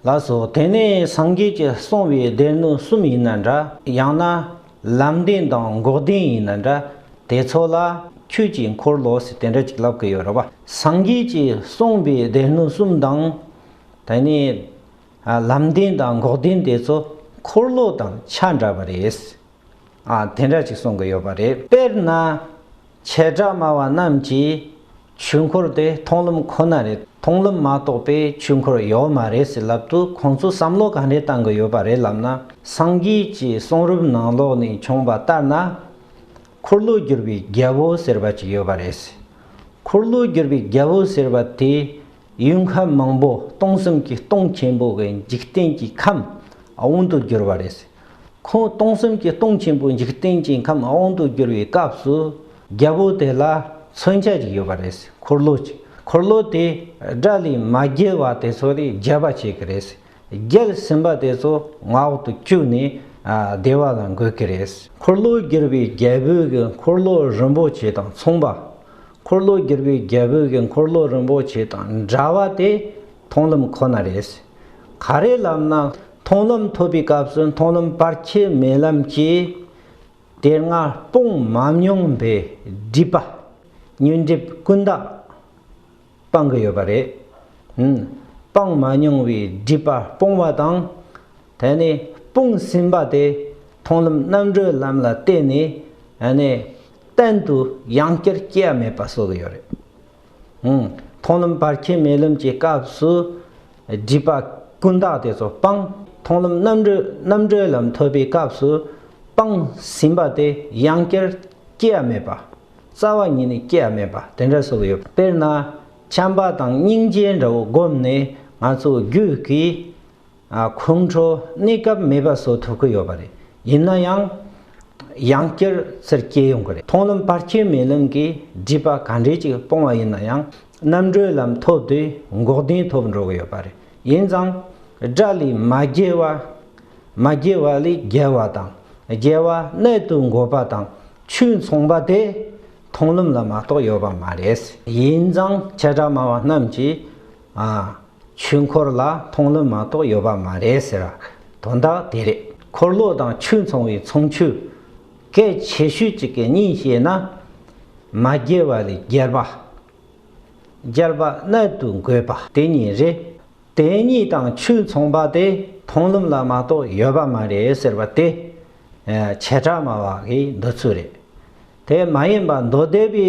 ལགས་སོ། དེ་ནི་སངས་རྒྱས་ཀྱི་གསུང་བའི་སྡེ་སྣོད་གསུམ་ཡིན་ན་འདྲ། ཡང་ན། ལམ་བདེན་དང་འགོག་བདེན་ཡིན་ན་འདྲ། དེ་ཚོ་ལ། ཁྱོད་ཀྱིས་འཁོར་ལོ་ཟེར་དེ་འདྲ་ཅིག་ལབ་གི་ཡོད་རེད་བ། སངས་རྒྱས་ཀྱི་གསུང་བའི་སྡེ་སྣོད་གསུམ་དང། དེ་ནི། ལམ་བདེན་དང་འགོག་བདེན་དེ་ཚོ་འཁོར་ལོ་དང་ཆ་འདྲ་བ་རེད། དེ་འདྲ་ཅིག་གསུང་གི་ཡོད་པ་རེད། དཔེར་ན། བྱེ་བྲག་སྨྲ་བ་རྣམས་ཀྱིས་ཆོས་འཁོར་དེ་མཐོང་ལམ་ཁོ་ན་རེད་མཐོང་ལམ་མ་གཏོགས་པའི་ཆོས་འཁོར་ཡོད་མ་རེད་ཟེར་ལབ་དུས་ཁོང་ཚོ་བསམ་བློ་ག་འདྲའི་བཏང་གི་ཡོད་པ་རེད་ལབ་ན་སངས་རྒྱས་ཀྱི་གསུང་རབ་ནང་ལོགས་ནས་བྱུང་བ་ལྟར་ན། འཁོར་ལོ་བསྒྱུར་བའི་རྒྱལ་པོ་ཟེར་བ་ཅིག་ཡོད་པ་རེད། འཁོར་ལོ་བསྒྱུར་བའི་རྒྱལ་པོ་ཟེར་བ་དེ། ཡུལ་ཁམས་མང་པོ་སྟོང་གསུམ་གྱི་སྟོང་ཆེན་པོ་བའི་འཇིག་རྟེན་གྱི་ཁམས་དབང་དུ་གྱུར་པ་རེད། ཁོང་སྟོང་གསུམ་གྱི་སྟོང་ཆེན་པོའི་འཇིག་རྟེན་གྱི་ཁམས་དབང་དུ་གྱུར་བའི་སྐབས་སུ་རྒྱལ་པོ་དེ་ལ་མཚོན་ཆ་ཅིག་ཡོད་པ་རེད། འཁོར་ལོ་ཅིག་འཁོར་ལོ་དེ་དགྲ་ལས་མ་རྒྱལ་བ་དེ་ཚོ་ལས་རྒྱལ་བ་བྱེད་ཀྱི་རེད། རྒྱལ་ཟིན་པ་དེ་ཚོ་ང་འོག་ཏུ་བཅུག་ནས་བདེ་བ་ལ་འགོད་ཀྱི་རེད། འཁོར་ལོ་བསྒྱུར་བའི་རྒྱལ་པོའི་འཁོར་ལོ་རིན་པོ་ཆེ་དང་མཚུངས་པ། འཁོར་ལོ་བསྒྱུར་བའི་རྒྱལ་པོའི་གི་འཁོར་ལོ་རིན་པོ་ཆེ་དང་འདྲ་བ་དེ་མཐོང་ལམ་ཁོ་ན་རེད། ག་རེ་ལབ་ན་མཐོང་ལམ་ཐོབ་པའི་སྐབས་སུ་མཐོང་ལམ་བར་ཁྱད་མེད་ལམ་གྱི་དེ་སྔ་སྤོང་མ་མྱོང་པའི་སྒྲིབ་པ་ཉོན་སྒྲིབ་ཀུན་བཏགས་སྤང་གི་ཡོད་པ་རེད། སྤང་མ་མྱོང་བའི་སྒྲིབ་པ་སྤོང་བ་དང། དེ་ནས་སྤོང་ཟིན་པ་དེ་མཐོང་ལམ་རྣམ་གྲོལ་ལམ་ལ་བརྟེན་ནས་གཏན་དུ་ཡང་བསྐྱར་སྐྱེ་བ་མེད་པ་གསོག་གི་ཡོད་རེད། མཐོང་ལམ་བར་ཁྱད་མེད་ལམ་གྱི་སྐབས་སུ་སྒྲིབ་པ་ཀུན་བཏགས་དེ་ཚོ་སྤངས། མཐོང་ལམ་རྣམ་གྲོལ་རྣམ་གྲོལ་ལམ་ཐོབ་པའི་སྐབས་སུ་སྤངས་ཟིན་པ་དེ་ཡང་བསྐྱར་སྐྱེ་བ་མེད་པ། རྩ་བ་ཉིད་ནས་སྐྱེ་བ་མེད་པ་དེ་འདྲ་གསོག་གི་ཡོད། དཔེར་ན། བྱམས་པ་དང་སྙིང་རྗེ་འདྲ་བོ་བསྒོམས་ནས་ང་ཚོ་རྒྱུད་ཀྱི། ཁོང་ཁྲོ་གནས་སྐབས་མེད་པ་བཟོ་ཐུབ་ཀྱི་ཡོད་པ་རེད། ཡིན་ན་ཡང། ཡང་བསྐྱར་ཚུར་སྐྱེལ་ཡོང་གི་རེད། མཐོང་ལམ་བར་ཁྱད་མེད་ལམ་གྱི་སྒྲིབ་པ་ག་འདྲས་ཅིག་སྤོང་བ་ཡིན་ན་ཡང་རྣམ་གྲོལ་ལམ་ཐོབ་དུས་འགོག་བདེན་ཐོབ་འགྲོ་གི་ཡོད་པ་རེད། ཡིན་ཙང། དགྲ་ལས་མ་རྒྱལ་བ། མ་རྒྱལ་བ་ལས་རྒྱལ་བ་དང། རྒྱལ་བ་རྣལ་དུ་འགོད་པ་དང་ཆོས་མཚུངས་པ་དེ། མཐོང་ལམ་ལ་མ་གཏོགས་ཡོད་པ་མ་རེད། ཡིན་ཙང་བྱེ་བྲག་སྨྲ་བ་རྣམས་ཀྱིས། ཆོས་འཁོར་ལ་མཐོང་ལམ་མ་གཏོགས་ཡོད་པ་མ་རེད་ཟེར་བ་དོན་དག་དེ་རེད། འཁོར་ལོ་དང་ཆོས་མཚུངས་བའི་མཚུངས་ཆོས། གལ་ཆེ་ཤོས་གཅིག་གི་གཉིས་བཤད་ན། མ་རྒྱལ་བ་ལས་རྒྱལ་བ། རྒྱལ་བ་རྣལ་དུ་འགོད་པ་དེ་གཉིས་རེད། དེ་གཉིས་དང་ཆོས་མཚུངས་པ་དེ་མཐོང་ལམ་ལ་མ་གཏོགས་ཡོད་པ་མ་རེད་ཟེར་བ་དེ། བྱེ་བྲག་སྨྲ་བ་འགའི་འདོད་ཚུལ་རེད། དེ་མ་ཡིན་པ་མདོ་སྡེ་པའི་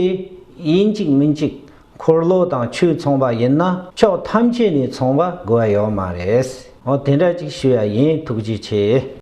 ཡིན་གཅིག་མིན་གཅིག་འཁོར་ལོ་དང་ཆོས་མཚུངས་པ་ཡིན་ན་ཕྱོགས་ཐམས་ཅད་ནས་མཚུངས་པ་དགོས་པ་ཡོད་མ་རེད། འོ་དེ་འདྲ་ཅིག་ཞུ་ཡ་ཡིན་ཐུགས་རྗེ་ཆེ།